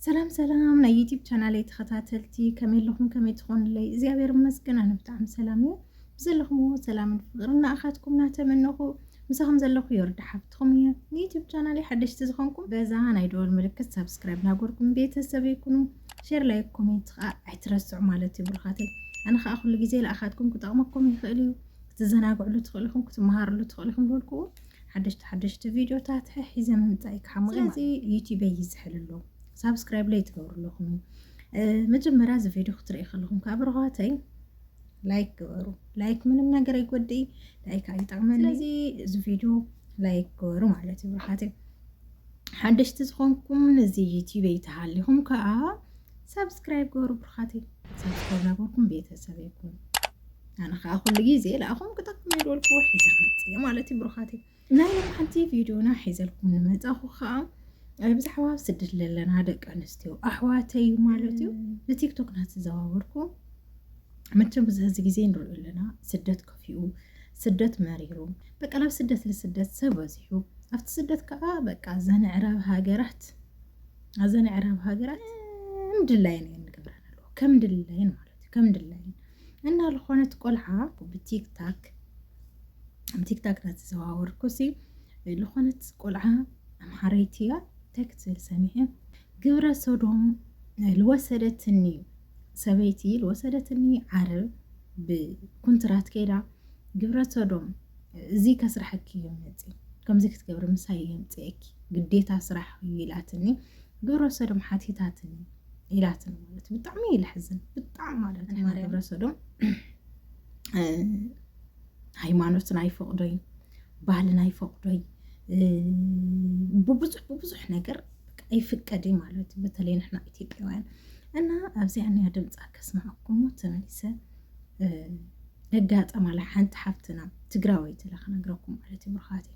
ሰላም ሰላም ናይ ዩቲብ ቻናለይ ተኸታተልቲ ከመይ ኣለኹም ከመይ ትኾኑለይ እግዚኣብሔር ይመስገን ኣነ ብጣዕሚ ሰላም እየ ብዘለኹምዎ ሰላምን ፍቅርን ንኣኻትኩም እናተመነኹ ምሳኹም ዘለኹ የወርዳ ሓፍትኹም እየ ንዩቲብ ቻናለይ ሓደሽቲ ዝኾንኩም በዛ ናይ ደወል ምልክት ሳብስክራይብ ናጎርኩም ቤተሰብ ይኩኑ ሼር ላይ ኮሜንት ከዓ ኣይትረስዑ ማለት እዩ ብሩኻተይ ኣነ ከዓ ኩሉ ግዜ ንኣኻትኩም ክጠቕመኩም ይኽእል እዩ ክትዘናግዕሉ ትኽእልኹም ክትመሃርሉ ትኽእልኹም ዝበልኩዎ ሓደሽቲ ሓደሽቲ ቪድዮታት ሒዘ ምምፃእ ክሓምቕ ስለዚ ዩቲበይ ይዝሕል ኣሎ ሳብስክራይብ ለይ ትገብሩ ኣለኹም እዩ መጀመርያ እዚ ቪድዮ ክትርኢ ከለኹም ካብ ርኋተይ ላይክ ግበሩ ላይክ ምንም ነገር ኣይጎድኢ ላይክ ኣይጠቕመን ስለዚ እዚ ቪድዮ ላይክ ግበሩ ማለት እዩ ርሓተይ ሓደሽቲ ዝኾንኩም ነዚ ዩቲብ ተሃሊኹም ከዓ ሳብስክራይብ ግበሩ ብርኻተይ ሳብስክራይብ ናበርኩም ቤተሰብ ይኩን ኣነ ከዓ ኩሉ ግዜ ለኣኹም ክጠቅም ይደልኩ ሒዘ ክመፅእ እየ ማለት እዩ ብሩኻት እዩ ናይ ሓንቲ ቪድዮና ሒዘልኩም ንመፃኹ ከዓ ብዛዕባ ኣብ ስደት ዘለና ደቂ ኣንስትዮ ኣሕዋተይ ማለት እዩ ብቲክቶክ ናተዘዋወርኩ መቸም ብዙሕ እዚ ግዜ ንሪኦ ኣለና ስደት ከፊኡ ስደት መሪሩ በቃ ናብ ስደት ንስደት ሰብ በዚሑ ኣብቲ ስደት ከዓ በቃ ዘንዕራብ ሃገራት ኣዘንዕራብ ሃገራት ምድላይን እየን ንገብረን ኣለዎ ከም ድላይን ማለት እዩ ከም ድላይን እና ዝኾነት ቆልዓ ብቲክታክ ቲክታክ ናተዘዋወርኩ ሲ ዝኾነት ቆልዓ ኣምሓረይቲ እያ እንታይ ክትብል ሰሚዐ ግብረ ሶዶም ልወሰደትኒ ሰበይቲ ልወሰደትኒ ዓረብ ብኩንትራት ከይዳ ግብረ ሶዶም እዚ ከስራሕኪ እዩ መፅ ከምዚ ክትገብሪ ምሳይ እየ ምፅአኪ ግዴታ ስራሕ እዩ ኢላትኒ ግብረ ሶዶም ሓቲታትኒ ኢላትን ማለት እዩ ብጣዕሚ እዩ ልሕዝን ብጣዕሚ ማለት እዩ ግብረ ሰዶም ሃይማኖትን ኣይፈቕዶይ ባህልን ኣይፈቕዶይ ብብዙሕ ብብዙሕ ነገር ኣይፍቀድ እዩ ማለት እዩ በተለይ ንሕና ኢትዮጵያውያን እና ኣብዚኣ ንያ ድምፃ ከስማዕኩሞ ተመሊሰ ደጋጠማላ ሓንቲ ሓፍትና ትግራወይቲ ኢላ ክነግረኩም ማለት እዩ ብርኻት እዩ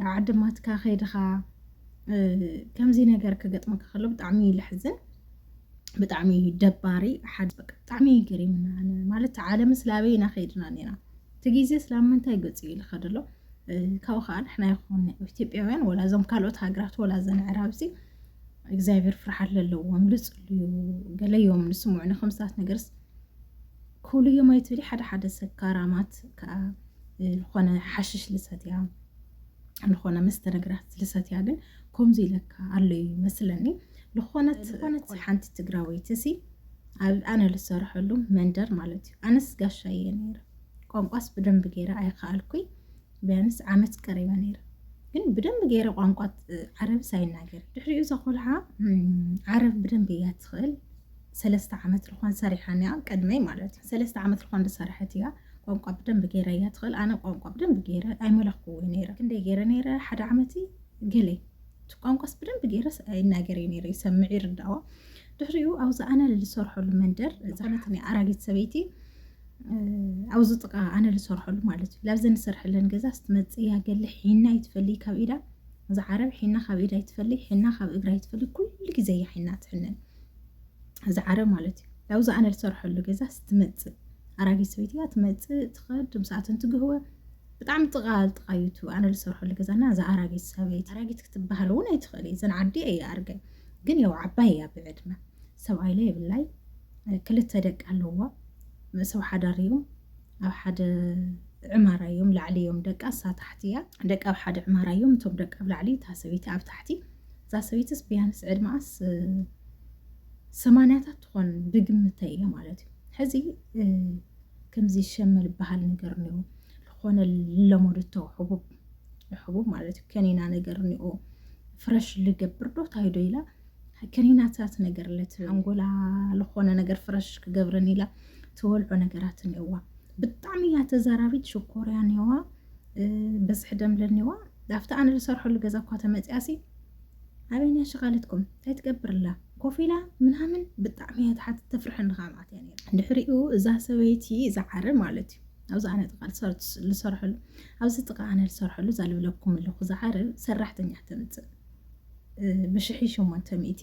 ናብ ዓድማትካ ከይድኻ ከምዚ ነገር ክገጥመካ ከሎ ብጣዕሚ እዩ ልሕዝን ብጣዕሚ እዩ ደባሪ ሓደ ብጣዕሚ እዩ ገሪምና ማለት ዓለም ስላበይ ኢና ከይድና ኔና እቲ ግዜ ስላብ ምንታይ ገፁ እዩ ልኸድ ኣሎ ካብኡ ከዓ ንሕና ይኹን ኢትዮጵያውያን ወላ እዞም ካልኦት ሃገራት ወላ ዘን ዕራብዚ እግዚኣብሔር ፍርሓት ለለዎም ልፅልዩ ገለዮም ንስምዑ ንከምስታት ነገርስ ክብሉ እዮም ኣይትብሊ ሓደ ሓደ ሰካራማት ከዓ ዝኾነ ሓሽሽ ልሰትያ ዝኾነ መስተ ነገራት ልሰትያ ግን ከምዚ ኢለካ ኣሎ እዩ መስለኒ ዝኾነት ዝኾነት ሓንቲ ትግራወይቲ ሲ ኣብ ኣነ ልሰርሐሉ መንደር ማለት እዩ ኣነስ ጋሻ እየ ነይረ ቋንቋስ ብደንብ ገይረ ኣይከኣልኩይ ቢያንስ ዓመት ቀሪበ ነይረ ግን ብደንብ ገይረ ቋንቋ ዓረብስ ኣይናገር ድሕሪኡ እዛ ቆልዓ ዓረብ ብደንብ እያ ትኽእል ሰለስተ ዓመት ልኳን ሰሪሓን እያ ቅድመይ ማለት እዩ ሰለስተ ዓመት ልኳን ዝሰራሐት እያ ቋንቋ ብደንብ ገይረ እያ ትኽእል ኣነ ቋንቋ ብደንብ ገይረ ኣይመለኽኩዎ ነይረ ክንደይ ገይረ ነይረ ሓደ ዓመት ገለይ እቲ ቋንቋስ ብደንብ ገይረ ይናገር እዩ ነይረ ይሰምዕ ይርዳዋ ድሕሪኡ ኣብዚ ኣነ ዝሰርሐሉ መንደር ዝኾነት ናይ ኣራጊት ሰበይቲ ኣብዚ ጥቃ ኣነ ዝሰርሐሉ ማለት እዩ ላብዘን ዝሰርሐለን ገዛ ስትመፅ ያገለ ሒና ይትፈሊ ካብ ኢዳ እዚ ዓረብ ሒና ካብ ኢዳ ይትፈሊ ሒና ካብ እግራ ይትፈሊ ኩሉ ግዜ እያ ሒና ትሕነን እዚ ዓረብ ማለት እዩ ላብዚ ኣነ ዝሰርሐሉ ገዛ ስትመፅእ ኣራጊት ሰበይቲ እያ ትመፅእ ትኸድ ምስኣትን ትግህወ ብጣዕሚ ጥቃ ጥቃ እዩ እቲ ኣነ ዝሰርሐሉ ገዛና እዚ ኣራጊት ሰበይቲ ኣራጊት ክትበሃል እውን ኣይትኽእል እዩ ዘን ዓዲ እየ ኣርገ ግን ያው ዓባይ እያ ብዕድመ ሰብኣይ ላይ የብላይ ክልተ ደቂ ኣለዋ ሰብ ሓዳር እዮም ኣብ ሓደ ዕማራ እዮም ላዕሊ እዮም ደቃ እሳ ታሕቲ እያ ደቂ ኣብ ሓደ ዕማራ እዮም እቶም ደቂ ኣብ ላዕሊ እታ ሰበይቲ ኣብ ታሕቲ እዛ ሰበይትስ ብያንስ ዕድመኣስ ሰማንያታት ትኾን ብግምተ እየ ማለት እዩ ሕዚ ከምዚ ሸመል በሃል ነገር እኒኦ ዝኾነ ለመዱቶ ሕቡብ ሕቡብ ማለት እዩ ከኒና ነገር እኒኦ ፍረሽ ልገብር ዶ ታይዶ ኢላ ክኒናታት ነገር ለት ሓንጎላ ዝኾነ ነገር ፍረሽ ክገብረን ኢላ ተወልዖ ነገራት እኒኦዋ ብጣዕሚ እያ ተዛራቢት ሽኮርያ እኒኦዋ በዝሒ ደምለ እኒኦዋ ዳፍቲ ኣነ ዝሰርሐሉ ገዛ እኳ ተመፅያሲ ኣበይንያ ሸቃለትኩም እንታይ ትገብርላ ኮፍ ኢላ ምናምን ብጣዕሚ እያ ትሓት ተፍርሐኒ ከዓ ማለት እያ ነይራ ድሕሪኡ እዛ ሰበይቲ እዛ ዓረ ማለት እዩ ኣብዚ ኣነ ጥቃ ዝሰርሐሉ ኣብዚ ጥቃ ኣነ ዝሰርሐሉ እዛ ልብለኩም ኣለኹ ዝዓረ ሰራሕተኛ ተምፅእ ብሽሕይ ሸሞንተ ሚእቲ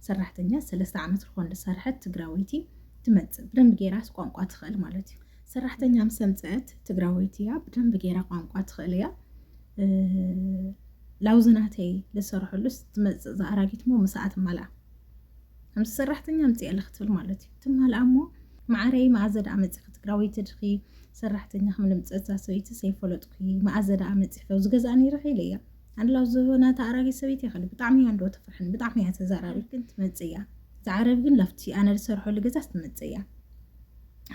ሰራሕተኛ ሰለስተ ዓመት ዝኾን ዝሰርሐት ትግራወይቲ ትመጽእ ብደንብ ጌራስ ቋንቋ ትኽእል ማለት እዩ ሰራሕተኛ ምስ ኣምፀአት ትግራወይቲ እያ ብደንብ ጌራ ቋንቋ ትኽእል እያ ላውዝናተይ ልሰርሐሉስ ትመፅእ ዝኣራጊት ሞ ምሳኣ ትማልኣ ከምዚ ሰራሕተኛ ምፅእ ኣለ ክትብል ማለት እዩ ትማልኣ እሞ ማዕረይ መኣዘ ደኣ መፂኺ ትግራወይቲ ድኺ ሰራሕተኛ ክምልምፀ እዛ ሰበይቲ ዘይፈለጥኩ መኣዘ ደኣ መፂኺ ዝገዛእ ነይረ ኢለ እያ ኣላ ዝሆነ ተኣራጊ ሰበይቲ ይኸል ብጣዕሚ እያ እንዶ ትፍርሕን ብጣዕሚ እያ ተዛራቢ ግን ትመፅእ እያ ዝዓረብ ግን ላፍቲ ኣነ ዝሰርሐሉ ገዛ ስትመፅእ እያ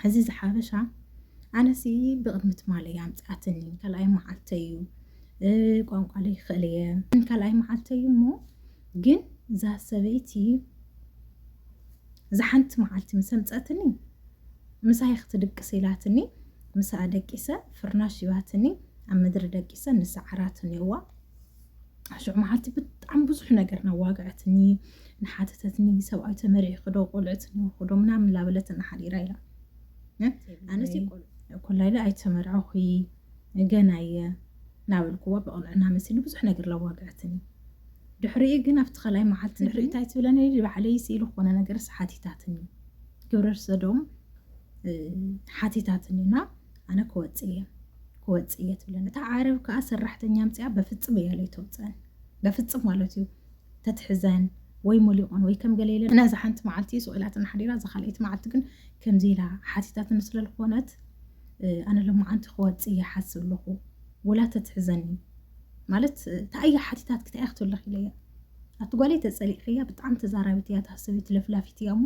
እዚ ዝሓበሻ ኣነሲ ብቕድሚ ትማለ እያ ኣምፅኣትኒ ካልኣይ መዓልተ እዩ ቋንቋ ዘይክእል እየ ካልኣይ መዓልተ እዩ እሞ ግን እዛ ሰበይቲ እዛ ሓንቲ መዓልቲ ምስ ኣምፀትኒ ምሳይ ክትድቅስ ኢላትኒ ምሳኣ ደቂሰ ፍርናሽ ይባትኒ ኣብ ምድሪ ደቂሰን ንሰዓራትን እየዋ ሽዑ መዓልቲ ብጣዕሚ ብዙሕ ነገር ናዋግዐትኒ ንሓተተትኒ ሰብኣይ ተመሪዒ ክዶ ቆልዕትኒ ክዶ ምናምን ላበለት እናሓዲራ ኢላ ኣነሲ ኮላ ኢለ ኣይተመርዐኹ ገና እየ ናበልክዋ ብቕንዕና መሲሉ ብዙሕ ነገር ላዋግዐትኒ ድሕሪኡ ግን ኣብቲ ካልኣይ መዓልቲ ድሕሪ እንታይ ትብለኒ ባዕለይ ስኢሉ ክኾነ ነገርስ ሓቲታትኒ ግብረ ሰዶም ሓቲታትኒና ኣነ ክወጽእ እየ ክወጽእ እየ ትብለን እታ ዓረብ ከዓ ሰራሕተኛ ኣምፅኣ በፍፅም እያ ለይተውፅአን በፍፅም ማለት እዩ ተትሕዘን ወይ ሞሊቆን ወይ ከም ገለ ኢለን ነዛ ሓንቲ መዓልቲ ስቁኢላትን ሓዲራ እዛ ካልኣይቲ መዓልቲ ግን ከምዚ ኢላ ሓቲታትን ስለ ዝኾነት ኣነ ሎመዓንቲ ክወፅ እየ ሓስብ ኣለኹ ወላ ተትሕዘኒ ማለት ታእያ ሓቲታት ክታእያ ክትብለኽ ኢለያ ኣቲ ጓለይ ተፀሊእኽያ ብጣዕሚ ተዛራቢት እያ ታሰቢት ለፍላፊት እያ እሞ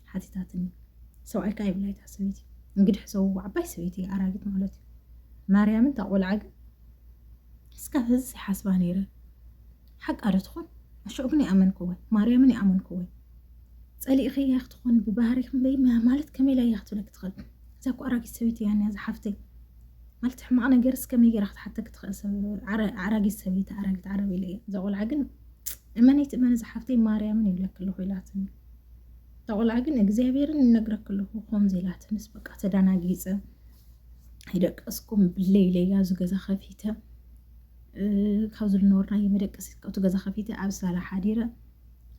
ሓቲታትኒ። ሰብኣይካ የብላይ እታ ሰበይቲ እንግድሕ ዘውዋ ዓባይ ሰበይቲ እያ ኣራጊት ማለት እዩ ማርያምን እታ ቆልዓ ግን እስካብ ህዚ ዘይሓስባ ነይረ ሓቃ ዶ ትኾን ኣሽዑ ግን ይኣመንክወን ማርያምን ይኣመንክወን ጸሊእኸያ ክትኾን ብባህሪኽ እምበይ ማለት ከመይ ኢላ እያ ክትብለክ ትኽእል እዛ እኮ ኣራጊት ሰበይቲ እያ እኒኣ ዝሓፍተይ ማለት ሕማቕ ነገር እስከ መገራ ክትሓተክ ትኽእል ሰብ ኣራጊት ሰበይቲ ኣራጊት ዓረብ ኢለ እያ እዛ ቆልዓ ግን እመነይቲ እመነ ዝሓፍተይ ማርያምን ይብለክ ኣለኹ ኢላትኒ እታ ቆልዓ ግን እግዚኣብሔርን ይነግረክ ኣለኹ ከምዚ ኢላትንስ በቃ ተዳናጊፀ ኣይደቀስኩም ብለይለያ ዝገዛ ከፊተ ካብ ዝነበርናዮ መደቀሲ ካብቲ ገዛ ከፊተ ኣብ ሳላ ሓዲረ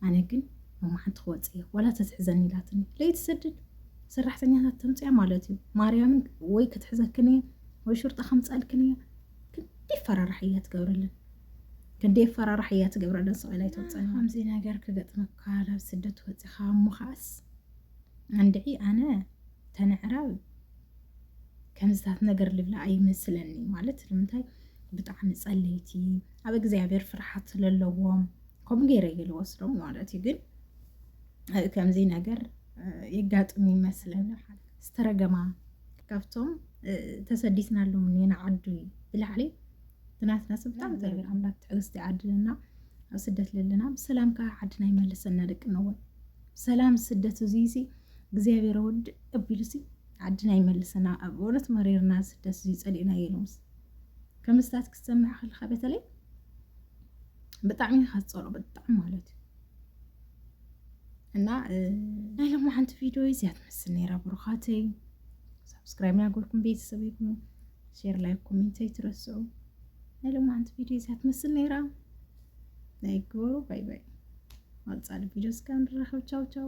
ኣነ ግን መማሓንቲ ክወፅ እየ ዋላ ተትሕዘኒ ኢላትኒ ለይትሰድድ ሰራሕተኛታት ተምፅያ ማለት እዩ ማርያምን ወይ ክትሕዘክን እየ ወይ ሹርጣ ከምፃልክን እየ ክንዲ ፈራራሕ እያ ትገብረለን ክንዲ ፈራራሕ እያ ትገብረለን ሰብኣይ ኣይትወፅእን ከምዚ ነገር ክገጥመካ ናብ ስደት ወፂኻ እሞ ከዓስ እንድዒ ኣነ ተነዕራብ ከምዝታት ነገር ልብላ ኣይመስለኒ ማለት ንምንታይ ብጣዕሚ ፀለይቲ ኣብ እግዚኣብሔር ፍርሓት ስለለዎም ከምኡ ገይረ እየ ዝወስዶም ማለት እዩ ግን ከምዚ ነገር የጋጥም ይመስለና ዝተረገማ ካብቶም ተሰዲትናሎም ኔና ዓዱ እዩ ብላዕሊ ብናትና ሰብ ብጣዕሚ ተረገም ኣምላክ ትዕግስቲ ይዓድለና ኣብ ስደት ዘለና ብሰላም ከዓ ዓድና ይመልሰና ደቂ ነወን ሰላም ስደት እዚ ሲ እግዚኣብሔር ወድ ኣቢሉ ሲ ዓድና ይመልሰና ኣብ በእውነት መሪርና ስደት እዚ ፀሊእና የሎምስ ከምስታት ክትሰምዕ ከለካ በተለይ ብጣዕሚ ካፀሎ ብጣዕሚ ማለት እዩ እና ናይ ሎሚ ሓንቲ ቪድዮ እዚኣ ትመስል ነይራ ብሩኻተይ ሳብስክራይብ ናገርኩም ቤተሰብ ይኹኑ ሼር ላይ ኮሜንት ኣይትረስዑ ናይ ሎሚ ሓንቲ ቪድዮ እዚኣ ትመስል ነይራ ናይ ግበሩ ባይ ባይ ማልፃሊ ቪድዮ እስካ ንራኸብ ቻው ቻው